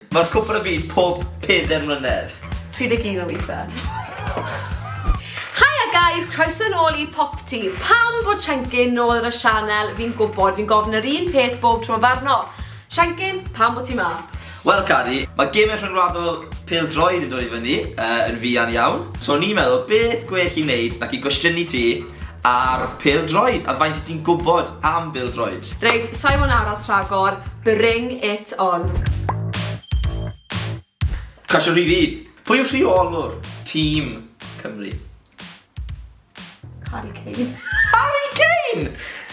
Mae'r cwpr yn byw pob pedair mlynedd. 31 o weithiau. Haia guys, croeso nôl i Popty. Pam bod Shankin nôl ar y sianel, fi'n gwybod, fi'n gofyn yr un peth bob tro yn farno. Shankin, pam bod ti ma? Wel, Cari, mae gemau rhyngwladol pêl droed yn dod i fyny uh, yn fuan iawn. So ni'n meddwl, beth gwell i wneud nac i gwestiynu ti Ar pêl-droed, a faint wyt ti'n gwybod am bêl-droed? Reit, sa'i mo'n aros rhagor, bring it on! Cwestiwn rhif un, pwy yw rheolwr tîm Cymru? Harry Kane. Harry Kane!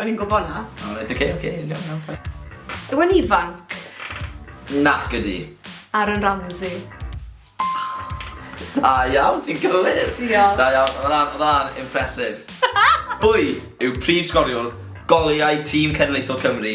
O'n i'n gwybod na. O, reit, oce, oce, iawn, iawn, fine. Yw e'n ifanc? Nac ydi. Aaron Ramsey. Da iawn, ti'n cywir. Diolch. Da iawn, oedd hwnna'n- oedd hwnna'n impressive. Pwy yw prif sgoriwr goliau tîm cenedlaethol Cymru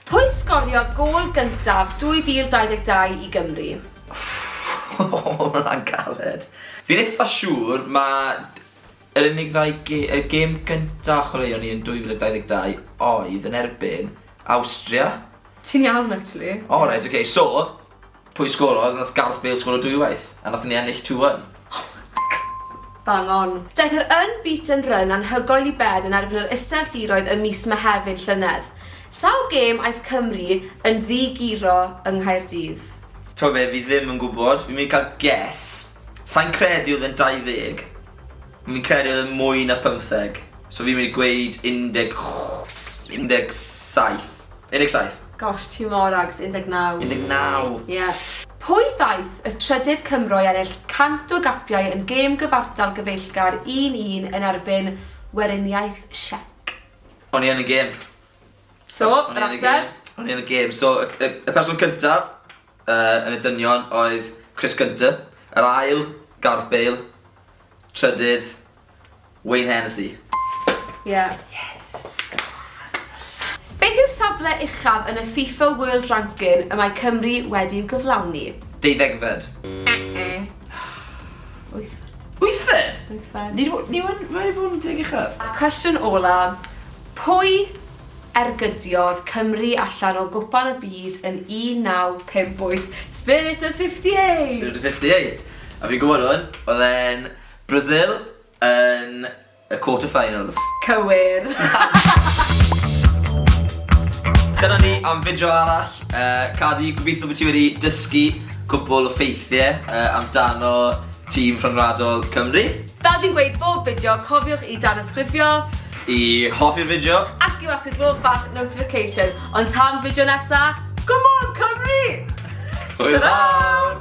Pwy sgoriodd gôl gyntaf 2022 i Gymru? Ww, ma hwnna'n galed. Fi'n eitha siŵr ma yr unig ddau ge- y gêm gynta chwaraeon ni yn 2022 oedd yn erbyn Awstria. Ti'n iawn actually. O reit ok so Pwy sgorodd? Nath Gareth Bale sgoro dwywaith a nathon ni ennill two one. Oh my God. Bang on. Daeth yr unbeaten run anhygoel i ben yn erbyn yr Iseldiroedd ym mis Mehefin llynedd. Sawl gêm aeth Cymru yn ddi-guro yng Nghaerdydd? T'o' be', fi ddim yn gwbod, fi'n myn' i ca'l guess. Sai'n credu o'dd e'n 20. Fi'n credu o'dd e'n mwy na pymtheg. So fi'n myn' i gweud undeg ch- undeg saith. 17. Gosh, ti mor ags, 19. 19! Ie. Pwy ddaeth y trydydd Cymro i ennill 100 o gapiau yn gêm gyfartal gyfeillgar 1-1 yn erbyn Weriniaeth Siec? O'n i yn y gêm. So, yr ateb? O'n i yn y gêm. So, y person cyntaf yn y dynion oedd Chris Gunter. Yr ail, Gareth Bale. Trydydd, Wayne Hennessey. Ie. Yes! Beth yw safle uchaf yn y FIFA World Ranking y mae Cymru wedi'w gyflawni? Deuddegfed. Wythfed. Wythfed? Wythfed. Ni w- ni wn- wedi bod yn deg uchaf. A cwestiwn ola, pwy ergydiodd Cymru allan o Gwpan y Byd yn 1958? Spirit of 58! Spirit of 58. A fi'n gwybod hwn, oedd e'n Brazil yn y quarter finals. Cywir! Dyna ni am fideo arall. Cadi, gobeithio bod ti wedi dysgu cwpwl o ffeithiau amdano tîm rhyngwladol Cymru. Fel fi'n gweud bob fideo, cofiwch i danysgrifio. I hoffi'r fideo. Ac i'w asedlu'r bach notification. Ond tan fideo nesa, Go on Cymru! Hwyl fawr!